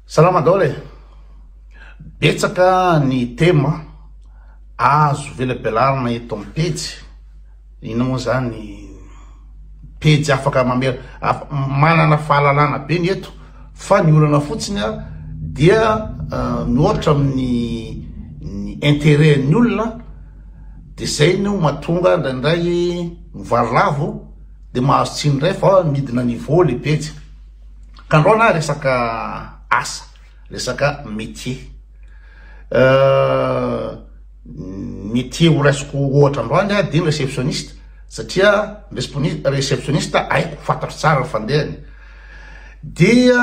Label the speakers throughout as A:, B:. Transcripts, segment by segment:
A: Salama daholo e! Betsaka ny tema azo velabelarina eto amin'ny pejy. Inona moa zany pejy afaka mamela af, manana fahalalana be ny eto fa ny olana fotsiny a dia uh, mihoatra amin'ny ny intérêt-n'ny olona de zay no matonga indraindray mivarilavo de mahazo tsiny indray fa midina niveau le pejy. Tandroana resaka asa, resaka métier. Métier ho raisiko ohatra androany aho dia ny réceptionniste satria ny respon- réceptionniste haiko, fantatro tsara ny fandehany. Dia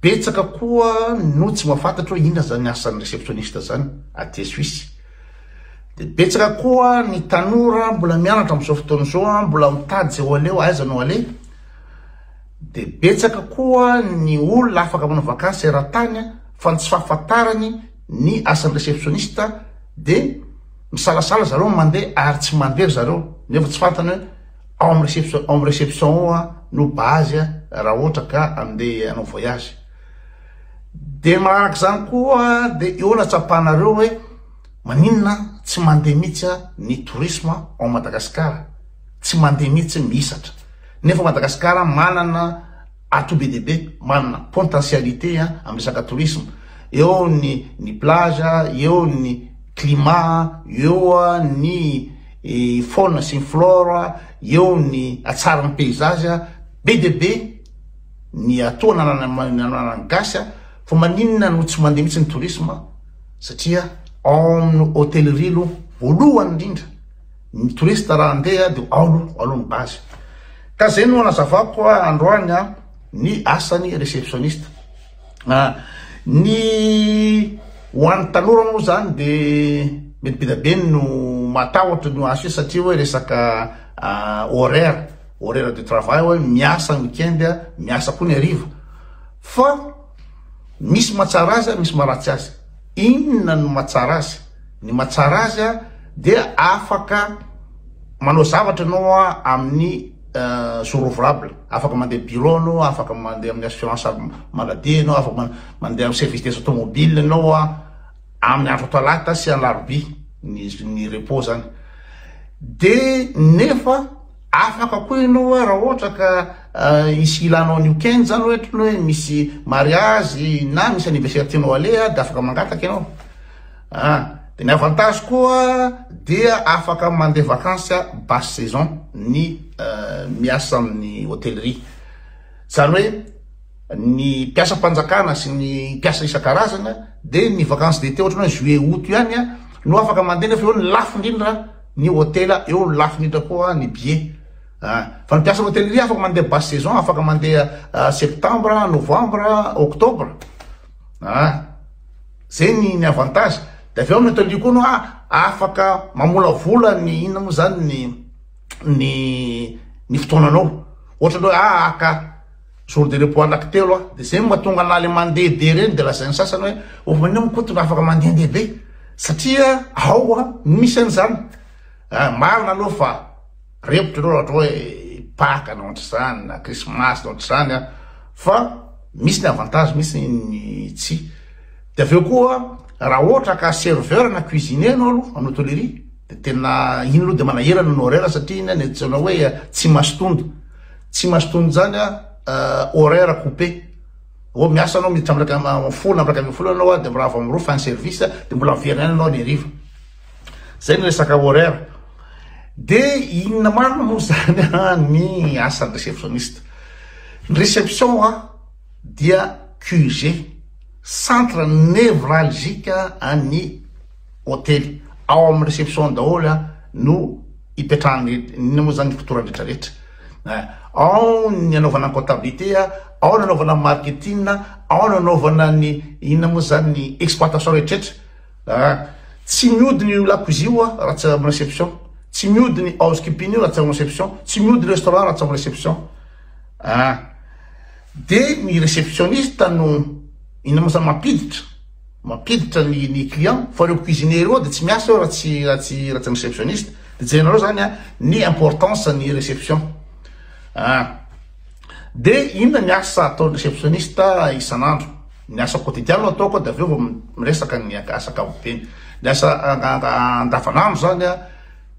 A: betsaka koa no tsy mahafantatra hoe inona izany asan'ny réceptionniste izany aty Suisse. Dia betsaka koa ny tanora mbola mianatra amin'izao fotoana izao, mbola mitady izay ho aleo, aiza no aleha. Dia betsaka koa ny olona afaka manao vakansy eran-tany fa ny tsy fahafantarany ny asan'ny réceptionniste dia misalasala zareo ny mandeha ary tsy mandeha ry zareo nefa tsy fantany hoe ao amin'ny réception, ao amin'ny réception ao no base raha ohatra ka handeha hanao voyage. Dia manaraka izany koa dia eo no hatsapanareo hoe maninona tsy mandeha mihitsy ny tourisme ao Madagasikara, tsy mandeha mihitsy mihisatra nefa Madagasikara manana atout be dia be, manana potentialité amin'ny resaka tourisme, eo ny ny plage, eo ny climat, eo ny faune sy ny flore, eo ny hatsaran'ny paysage, be dia be. ny atao na nananan'ny gasy a fa maninona no tsy mandeha mihitsy ny tourisme satria ao amin'ny hôtellerie aloha voalohany indrindra ny touriste raha andeha dia ao aloha aloha ny base ka zay no anazavako androany a ny asan'ny réceptionniste ah, ny ho an'ny tanora moa zany dia mety be dia be no matahotra ny ho azy satria hoe resaka ah, horaire horaire de travail hoe miasa ny week-end, miasa koa ny hariva. Fa misy mahatsara azy, misy maharatsy azy. Inona no mahatsara azy? Ny mahatsara azy dia afaka manao zavatra ianao amin'ny euh, jour ouvrable. Afaka mandeha bureau ianao, afaka mandeha amin'ny assurance maladie ianao, afaka mandeha amin'ny service des automobiles ianao amin'ny andro talata sy alarobia ny ny repos zany. Dia nefa Afaka koa ianao hoe raha ohatra ka hisy hilanao an'io Ken zany ohatra ny hoe misy mariazy na misy anniversaire tianao aleha dia afaka mangataka ianao ah dia ny avantage koa dia afaka mandeha vacances basse saison ny miasa amin'ny hotellerie zany hoe ny mpiasam-panjakana sy ny mpiasa isan-karazana dia ny vacances d'été ohatra ny hoe juillet aout ihany no afaka mandeha nefa eo ny lafo indrindra ny hotela eo ny lafiny indrindra koa ny billet ah, fa ny mpiasan'ny hôtellerie afaka mandeha basse saison afaka mandeha ah, septembre novembre octobre ah, zay ny ny avantage de avy eo ny hôtellerie koa no ah, afaka mamolavola ny inona moa zany ny ny ny fotoananao ohatra hoe ah, aka Jour de repos anaky telo a! de zay no mahatonga anah le mandeha be reny de lazain'ny sasany hoe oh anio mikoto raha afaka mandehandeha be satria ao a no misy an'izany a! marina aloha fa repotry aloha ohatra hoe paka na ohatr'izany na krismasy na ohatr'izany a! fa misy ny avantage misy ny tsy de avy eo koa raha ohatra ka serveur na cuisinier ianao aloha amin'ny hôtellerie de tena iny aloha de manahirana ny horaire satria iny a ny antsoina hoe tsy masotondo Tsy mahazo tohiny izany a horaire coupe oh miasa anao miditra am iraika am folo am iraika ambin'ny folo ianao a de mirava am roa fin service de mbola miverina ihany ianao any hariva zay ny resaka horaire de inona marina moa zany a ny asan'ny réceptionniste ny réception a dia QG centre névralgique an'ny hotely, ao amin'ny reception daholo a no ipetrahan'ny inona moa zany fotoana rehetra rehetra eh, ao ny anaovana comptabilité a, ao ny anaovana marketing a, ao ny anaovana ny inona moa zany ny exploitation rehetra rehetra eh, tsy miody ny lakozia io a raha tsy amin'ny reception, tsy miody ny housekeeping io raha tsy amin'ny reception, tsy miody restaurant raha tsy amin'ny reception ah, de ny receptionniste no inona moa zany mampiditra mampiditra ny ny client fa reo cuisinier reo de tsy miasa eo raha tsy raha tsy raha tsy ny receptionniste de jerenareo zany a ny importance ny reception ah de inona ny asa ataon'ny receptionniste isan'andro ny asa quotidian no ataoko de avy eo vao miresaka ny asa ankapobeny ny asa andavanandro zany a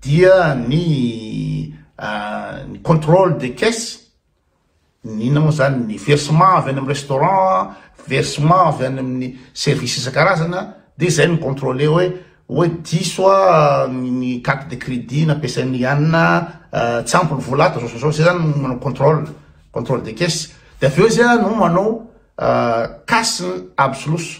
A: dia ny ny controle de caisse Inona moa izany ny versement avy any amin'ny restaurant, versement avy any amin'ny service isan-karazany dia izay no contrôler hoe hoe diso ny carte de crédit nampiasain'i Anna, tsy ampy ny vola ato, zao sy zao, izay izany no manao contrôle, contrôle de caisse, dia avy eo izy no manao cash absolus,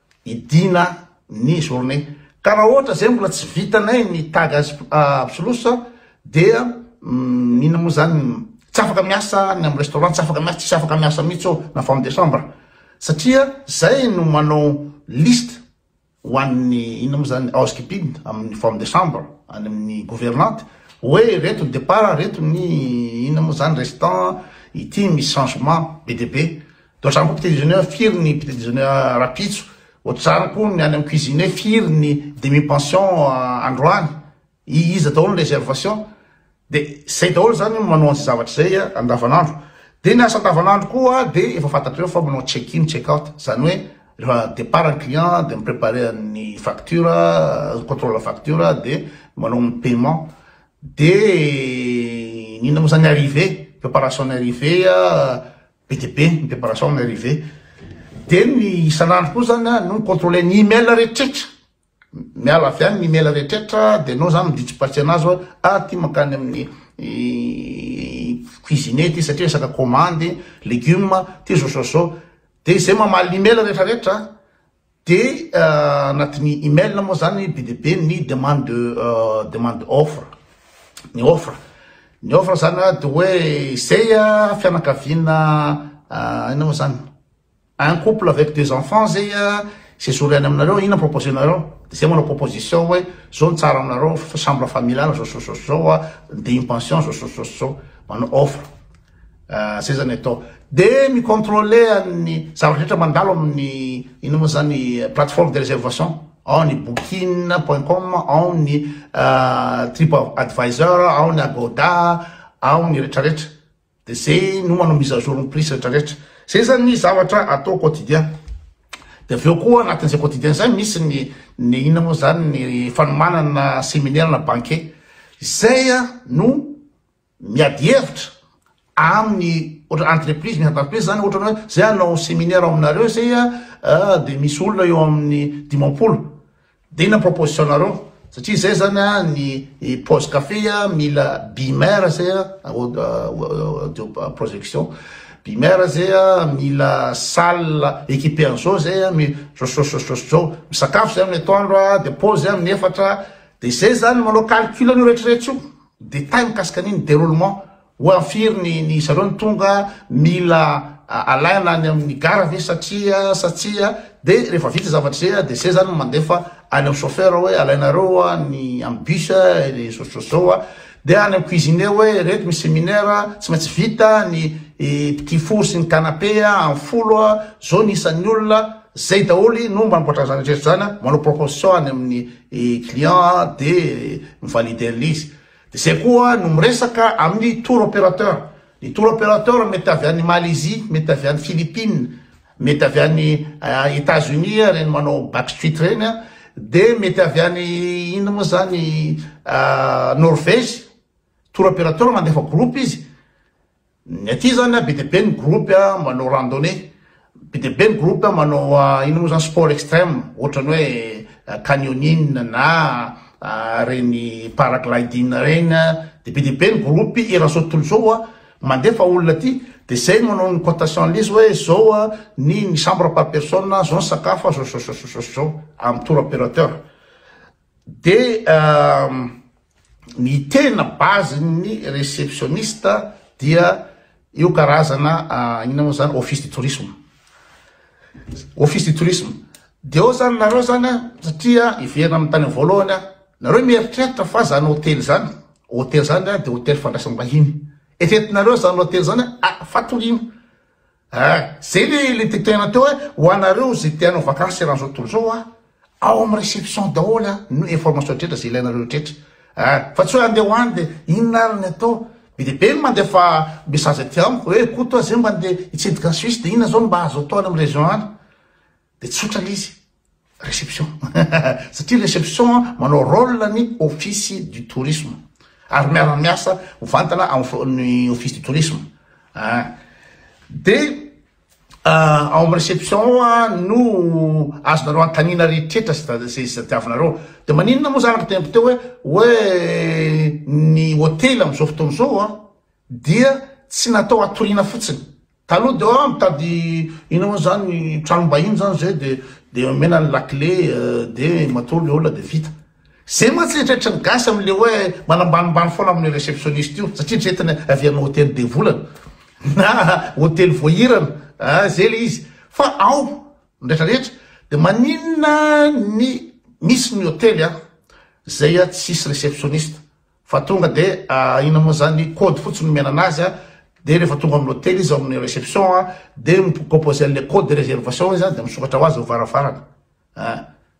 A: Hidiana ny journée. Ka raha ohatra zay mbola tsy vitanay ny tag azy absolution dia inona moa zany tsy afaka miasa ny amin'ny restaurant tsy afaka miasa tsisy afaka miasa mihitsy ô na femme de chambre satria zay no manao liste ho an'ny inona moa zany housekeeping amin'ny femme de chambre any amin'ny gouvernante hoe reto ny départ reto ny inona moa zany restant ity misy changement be dia be Doatra amiko petit déjeuner firy ny petit déjeuner rapitso ohatr'izany koa ny any amin'ny cuisine firy ny demi pension androany iza daholo ny réservation de zay daholo zany manao an'izay zavatra zay andavanandro de ny asa andavanandro koa de efa fantatrareo fa manao check in check out zany hoe rehefa départ ny client de mi-préparer ny facture contrôle facture de manao ny paiement de ny inona moa zany arrivée préparation ny arrivée Be dia be ny préparation an'i Rive. Dia ny isan'andro koa izany no mi-contrôler ny email rehetrretra. Miala avy any ny email rehetrretra dia enao izany mi-ditsipatsy anazy hoe ah ity mankany amin'ny cuisinier ity satria resaka commande, légumes, ity zao zao zao. Dia izay mamaly ny email rehetrarehetra. Dia anatin'ny email moa zany be dia be ny demande de demande offre, ny offre, ny offre zany a de hoe zay a fianakaviana inona moa zany un couple avec deux enfants zay a zay zoro ihany aminareo inona proposer nareo de zay manao proposition hoe zao no tsara aminareo chambre familiale zao zao zao zao a de une pension zao zao zao zao manao offre. seza ny atao de mi controle an'ny zavatra rehetra mandalo amin'ny ino moa zany plateforme de réservation ao ny booking point com ao ny trip advisor ao ny agoda ao ny retraretra de zay no manao mise à jour ny prix retraretra zay zany ny zavatra atao quotidien de avy eo koa anatin'izay quotidien zay misy ny ny ina moa zany ny fanomanana seminaire na banquet izay a no miady hevitra aminy ohatra entreprise misy entreprise zany ohatra hoe zay hanao seminaire ao aminareo zay a de misy olona eo amin'ny dimampolo de inona proposition nareo satria zay zany a ny pause café a mila bimer zay a audio projection bimer zay a mila salle équipé an'zao zay a mi sososososy zao misakafo zay amin'ny atoandro a de pause amin'ny efatra de zay zany manao calcul an'io rehetrarehetra io Détails mikasika ny ny déroulement, ho am firy ny ny zareo no tonga, mila alaina any amin ny gara ve satria sa tsia, de rehefa vita zavatra zay a de zay zany mandefa any am chauffeur hoe alainareo a ny am bus a le zao zao zao a, de any am cuisinier hoe reto misy séminaire tsy maintsy vita ny i petit four sy ny canapé a am folo a, zao ny isan ny olona, zay daholy no mamboatra an zany rehetra zany a, manao proposition any amin ny ny client a de mi-valider le izy de zay koa no miresaka amin'ny tour operateur ny tour operateur mety avy any Malaisie mety avy any Philippines mety avy any Etats Unis ireny manao backstreet ireny a de mety avy any inona moa zany Norvège tour operateur mandefa groupe izy Ny aty zany an, be dia be ny groupe an manao randonnée, be dia be ny groupe an manao inona moa zany sport extreme, ohatrany hoe canyoning na reny paragliding reny an, dia be dia be ny groupe eran'ny zao tontolo zao an, mandefa olona aty, dia zay no manao ny cotation an'l'izy hoe zao an ny ny chambre par personne, zao ny sakafo an, zao zao zao sy zao sy zao amin'ny tour operateur. Dia ny tena base ny receptioniste dia io karazana inona moa zany office du tourisme office du tourisme dia ao zany nareo zany a satria hiverina amin'ny tany voalohany a nareo mieritreritra fa zany hotely zany hotely zany dia hotely fandraisam-bahiny eritreretinareo zany hotely zany a fatoriana Eh! Zay le le tetohena teo eh! Ho anareo ze te hanao vakansy eran'izao tontolo izao ah! Ao am reception daholo ah! No information drehetra ze ilainareo drehetra eh! Fa tsy hoe andeha ho any de inona ary ny atao? Be dia be ny mandefa message aty amiko hoe eh! Koto ah! Zay mba andeha hitsidika any Suisse de inona zao no mba azo atao any am region any? De tsotra le izy. Réception satria réception manao rôle ny office du tourisme ary miara miasa mivantana amin'ny office du tourisme ah de ah, ao amin'ny réception no azonareo antanina rehetra sy tadiavinareo de maninona moa zany ry tempo teo hoe hoe ny hotely amin'izao fotoana izao ah dia tsy natao hatoriana fotsiny Taloha de ah mitady ina moa zany tranom-bahiny zany zay de de omena ny lakile de matoa mihaola de vita. Zay mantsy eritreritry ny gasy amin'le hoe manambanimbany foana amin'ny receptionniste io satria eritreretiny hoe avy any hotely be volana na hotely voahirana ah zay le izy fa ao ny retraretra de maninona ny misy ny hotely ah zay ah tsisy receptionniste Fa tonga de inona moa zany code fotsiny nomena anazy a, de refa tonga amin'ny hotely izy ao amin'ny reception a de mi-composer anle code de reservation izy a de misokatra ho azy eo varavarana a,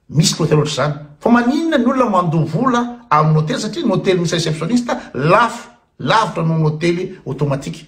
A: misy ny hotely ohatr'izany. Fa maninona ny olona mandoa vola amin'ny hotely satria ny hotely misy receptioniste lafo, lavitra noho ny hotely automatique.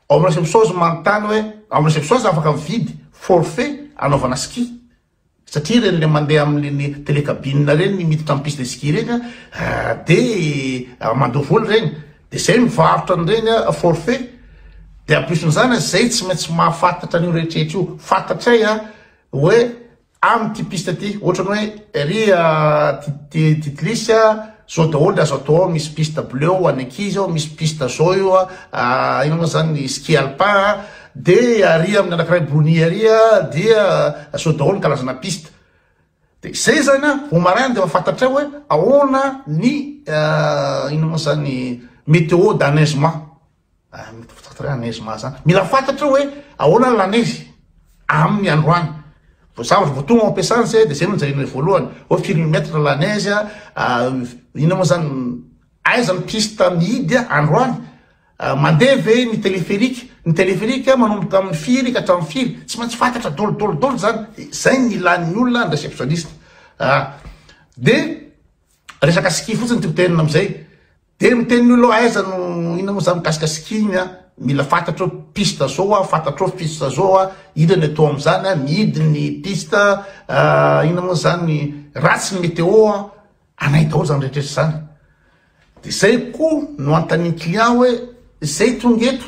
A: Ao amin'ny receptions manontany hoe ao amin'ny receptions afaka mividy forfait anaovana ski satria ireny ilay mandeha amin'ireny télécabine ireny ny miditra amin'ny piste de ski ireny an dia mandoa vola ireny dia izay mivarotra an'ireny forfait dia en plus an'izany izay tsy maintsy mahafantatra an'io rehetra rehetra io fantatray an hoe Am ty piste ty otrany hoe ery a titlis a zao daholo de azo atao ao misy piste bleu ho any ankizy ao misy piste zao io a ino mo zany ny ski alpin a de ary aminy anakiray brony ary a dia zao daholo ny kalazana piste de zay zany a vao maraina de efa fantatray hoe ahoana ny ino mo zany meteo d'enneigement. Mitovy Lanezy Mahaza. Mila fantatrao hoe ahoana ny Lanezy amin'ny androany. Vao zavatra vao tonga ao am-piasana zay dia zay no jerena voalohany. Hoe firy ny mètre Lanezy a, ah, inona moa zany aiza ny piste mihidy androany? Ah, mandeha ve ny téléphérique? Ny téléphérique manomboka amin'ny firy ka hatramin'ny firy? Tsy maintsy fantatra dolo dolo dolo zany. Zay ny ilàn'ny olona ny réceptionniste. Ah, dia resaka ski fotsiny tiako tenenina amin'izay. Dia miteny ny olona aiza no inona moa zany mikasika skin a, mila fantatrao piste zao a, fantatrao piste zao a, inona ny atao amin'izany a, mihidy ny piste a, inona moa zany ratsy ny météo a, anay daholo zany rehetrretra zany. Dia zay koa no anontanian'ny client hoe zay tonga eto,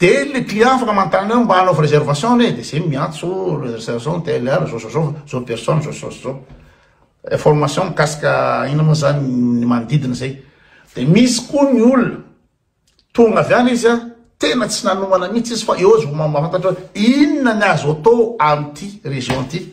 A: Dia ilay client afaka manontany hoe mba hanaovy réservation ve? Dia izay miantso réservation TLR zao zao zao, zao personne zao zao zao. Information mikasika inona moa zany ny manodidina izay. Dia misy koa ny olona tonga avy any izy a, tena tsy nanomana mihitsy izy fa eo izy vao mahafantatra hoe inona ny azo atao amin'ity région ity.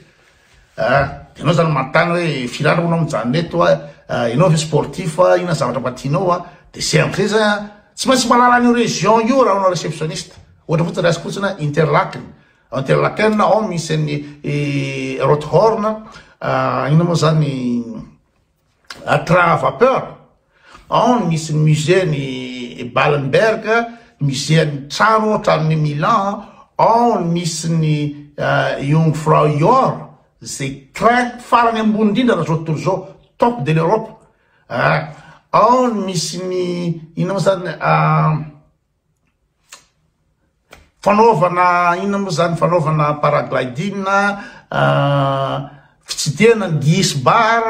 A: Ah, ianao zany manontany hoe firy andro anao mijanona eto a, ah, ianao ve sportif a, inona zavatra mba tianao a, de c'est un plaisir a, tsy maintsy malala an'io région io raha anao réceptionniste, ohatra fotsiny raisiko fotsiny a, Interlaken, ao Interlaken ao misy an'ny Rothorn, ah, inona moa zany, la train à vapeur ao ny misy musée ny Ballenberg musée ny trano tranon'ny Milan ao ny misy ny Jungfrau euh, Jor zay train farany ambony indrindra raha zao tontolo zao top de l'Europe ah, ao ny misy ny ino moa zany ah, Fanaovana inona moa zany fanaovana paragliding fitsidihana ny gihis bar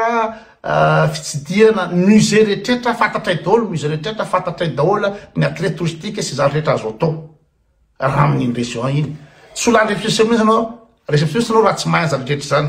A: fitsidihana musée rehetra fantatray daholo ny musée rehetra fantatray daholo ny attraits touristiques sy izany rehetra azo atao raha amin'iny région iny tsy ho lany réceptionniste ianao réceptionniste ianao raha tsy mahay an'izany rehetra izany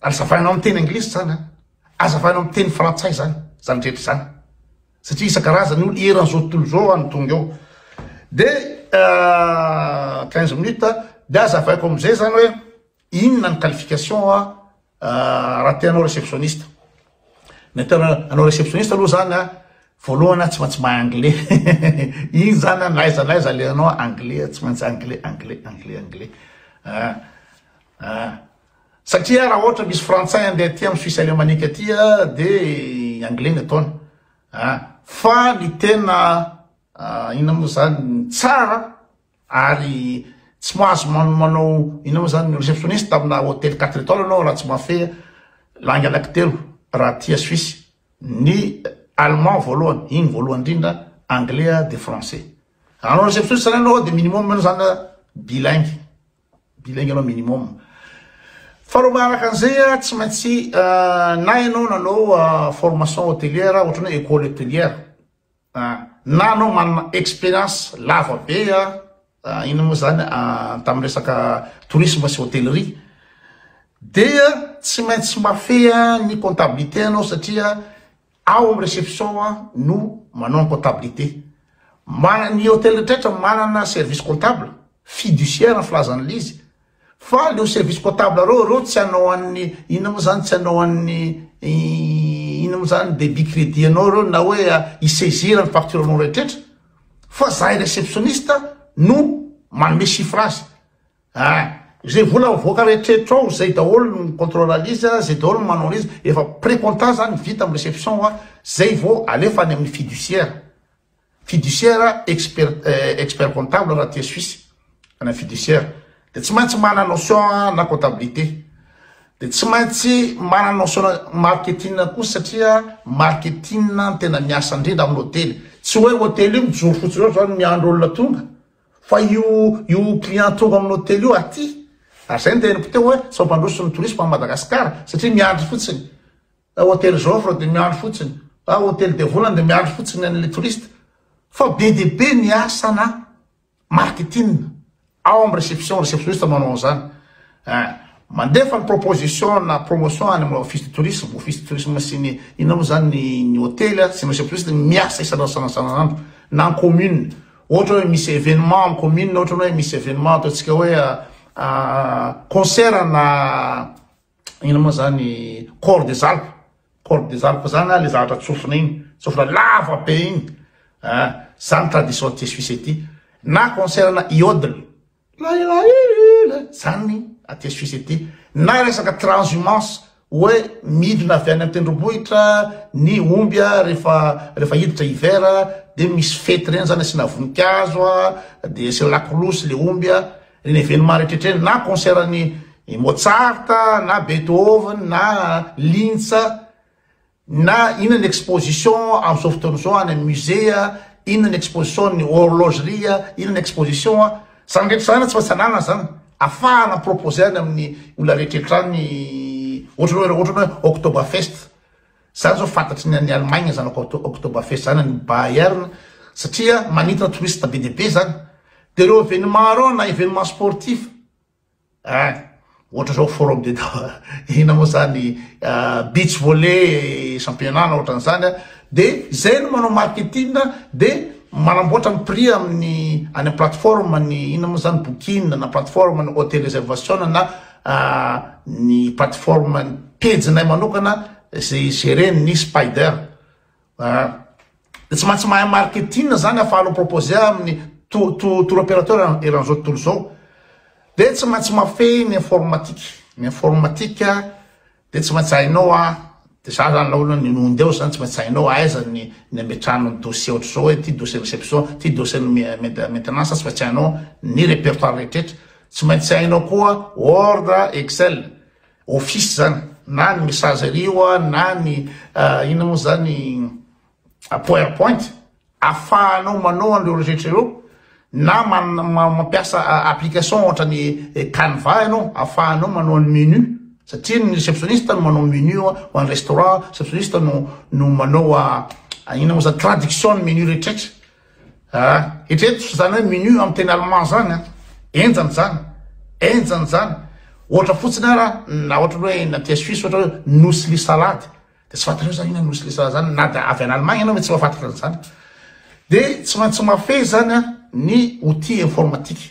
A: Azavainao amin'ny teny anglisy izany an! Azavainao amin'ny teny frantsay izany, izany rehetra izany. Satria isan-karazany io eran'izao tontolo izao any tonga eo. Dia euh, quinze minutes, dia azavaiko amin'izay izany hoe inona ny qualification euh, raha te hanao réceptionniste. Ny atao hanao réceptionniste aloha izany an, voalohany an tsy maintsy mahay anglais. Iny izany an, na aiza na aiza alehanao anglais, tsy maintsy anglais, anglais, anglais, anglais. Ah. Ah. Satria raha ohatra misy frantsay andeha aty am suisse alemanique aty a de anglais ny ataony ah. Fa ny tena inona moa zany tsara ary tsy mahazo manao inona moa zany receptionniste amina hôtel quatre étoiles anao raha tsy mahafehy langue anaky telo raha aty a suisse ny allemand voalohany igny voalohany indrindra anglais de français anao receptionniste zany anao de minimum anao zany bilingue Bilingue aloha minimum. Faharoa manaraka an'izay a, tsy maintsy na ianao nanao formation hôtelière ohatrany hoe école hôtelière, na anao manana expérience lava be a, inona moa zany tamin'ny resaka tourisme sy hôtellerie, dia tsy maintsy mafeha ny comptabilité anao satria. Ao am reception aho no manao ny comptabilité. Mana ny hotel retraitra manana service comptable, fiduciaire ny filazan'i Lizy. Fa leo service comptable reo, reo tsy anao an'ny inona mo zany tsy anao an'ny inona mo zany debit credit anao reo na hoe i saisir ny facture anao retraitra. Fa zahay receptionniste no manome chiffre azy. Ah! Izay vola mivoaka eritreritro ao izay daholo no mi controle an'izy a, izay daholo no manao an'izy, efa pre-compta zany vita amin'ny reception a, zay vao alefa any amin'ny fiduciaire, fiduciaire expert expert comptable raha aty Suisse, any amin'ny fiduciaire dia tsy maintsy manana notion na comptabilité, dia tsy maintsy manana notion marketing koa satria marketing no tena miasa indrindra amin'ny hotely, tsy hoe hotely io mijoro fotsiny eo zany miandry olona tonga, Fa io io client tonga amin'ny hotely io aty ary izay no teneniko teo hoe sao mpandroso ny tourisme an'i Madagascar satria miandry fotsiny hotely Joffre dia miandry fotsiny ah hotely dia volana dia miandry fotsiny an'ilay touriste fa be dia be ny asana marketing ao amin'ny réception réceptionniste manao an'izany ah mandefa ny proposition na promotion any amin'ny office de tourisme office de tourisme sy ny inona moa izany ny hotely sy ny réceptionniste miasa isan'andro isan'andro na ny commune Ohatra hoe misy événement amin'ny commune ohatrany hoe misy événement ataontsika hoe concert na ina moa zany corps des alpes corps des alpes zany na le zavatra tsofina iny tsofina lava be iny zany tradition tsisy fisa ity na concert na iodle Lahilahiiiiiila zany aty Suisse aty na resaka transhumance hoe midina avy any an-tendrombohitra ny omby a rehefa rehefa hiditra hiver a dia misy fety ireny zany asiana voninkazo a dia asiana lakolosy le omby a ireny événement rehetra rehetra ireny na concert an'i Mozart na Beethoven na Linz Na inona ny exposition amin'izao fotoana izao any amin'ny musée a, inona ny exposition an'ny horlogerie a, inona ny exposition a, izany rehetra izany tsy maintsy ananana izany, afahana mi-proposer any amin'ny olona rehetrarehetra any, ohatra hoe ohatra hoe Oktoberfest, izany izao fantatry ny any Allemagne izany Oktoberfest izany, any Bayern, satria manintona touristes be dia be izany, dia ireo événements ireo na événements sportifs, Ein! Ohatra zao forum de inona moa zany beach volley championnat-na ohatran'izany a, de zay no manao marketing de manamboatra ny prix amin'ny any am plateforme ny inona moa zany booking na plateforme ny hotel reservation na ny plateforme ny pejinay manokana ze i gere ny spider. Ah. Dia tsy maintsy mahay marketing zany afahalo proposer amin'ny tour operateur eran'izao tontolo zao. Dia tsy maintsy mafehy ny informatique. Ny informatique dia tsy maintsy hainao ah, dia za zany laolo ny nonde ao zany tsy maintsy hainao aiza ny ny ametrahana ny dossier ohatr'izao hoe ty dossier réception, ty dossier ny maintenance tsy maintsy hainao ny répertoire rehetra. Tsy maintsy hainao koa word, excel. office zany na ny messagerie oa na ny inona moa zany power point afahanao manao an'ireo rehetra ireo na mampiasa application ohatra ny canva ianao afahanao manao ny menu satria ny receptionniste no manao menu ho an'ny restaurant receptionniste no no manao inona moa zany traduction ny menu rehetraretra Ah eritrereto zany hoe menu am teny allemand zany an, enjana zany, enjana zany, ohatra fotsiny ara na ohatra hoe na aty Suisse ohatra hoe Nussli salade de tsy fantatreo zany inona Nussli salade zany na dia avy any Allemagne ianao ve tsy mahafantatra an'izany, de tsy maintsy mahafehy zany an ny outil informatique.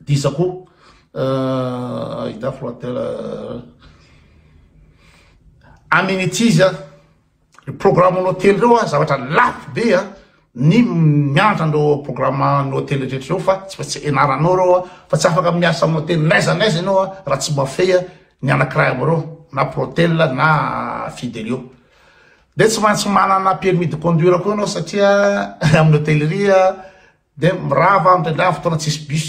A: Diso koa ahitafo atela amenities a programme ny hotely reo a zavatra lafo be a ny miantra andreo programme ny hotely rehetra reo fa tsy maintsy enaranao reo a fa tsy afaka miasa ny hotely naiza naiza ianao a raha tsy mafey a ny anakiray amo reo na protel na fidelio de tsy maintsy manana permis de conduire koa anao satria amin'ny hotellerie Dia mirava any indraindray amin'ny fotoana tsisy bus.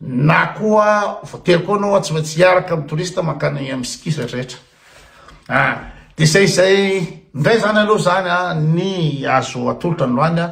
A: Na koa voatery koa anao tsy maintsy hiaraka amin'ny touriste mankany amin'ny ski zay rehetra. Ah, dia izay izay indray izany aloha izany ah, ny azo atolotra androany ah,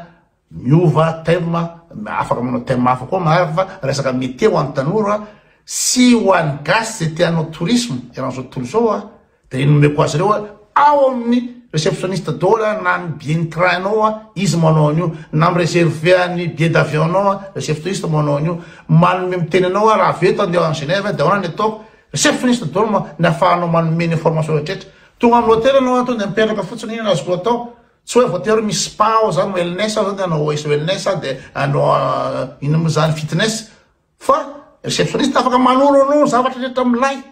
A: miova thème, afaka manao thème hafa koa marary fa resaka métier ho an'ny tanora sy ho an'ny gasy izay te hanao tourisme eran'izao tontolo izao ah. Dia nomeko azy ireo ao amin'ny receptionniste dôla na ny billet ny train nao a izy manao an'io na mireserve ny billet d'avion nao a receptionniste manao an'io manome miteny anao a raha avy eto andeha any Genève dia ahoana ny ataoko receptionniste dôla ma ny afahanao manome ny information rehetrarehetra tonga amin'ny hôtel anao a tonga dia mipetraka fotsiny inona no azoko atao tsy hoe voatery misy spa ao zany wellness ao zany dia hanao wellness a dia hanao ino mo zany fitness Fa receptionniste afaka manoro anao ny zavatra rehetra milay.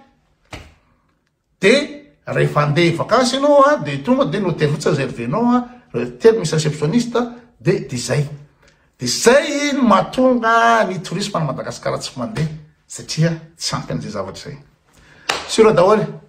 A: Dia rehefa handeha vakansy ianao a, dia tonga dia note fotsiny izay revenao a, telo misy receptionniste a, dia dia izay. Dia izay no mahatonga ny tourisme any Madagasikara tsy mandeha satria tsy ampy an'izay zavatra izay. Sur daholo.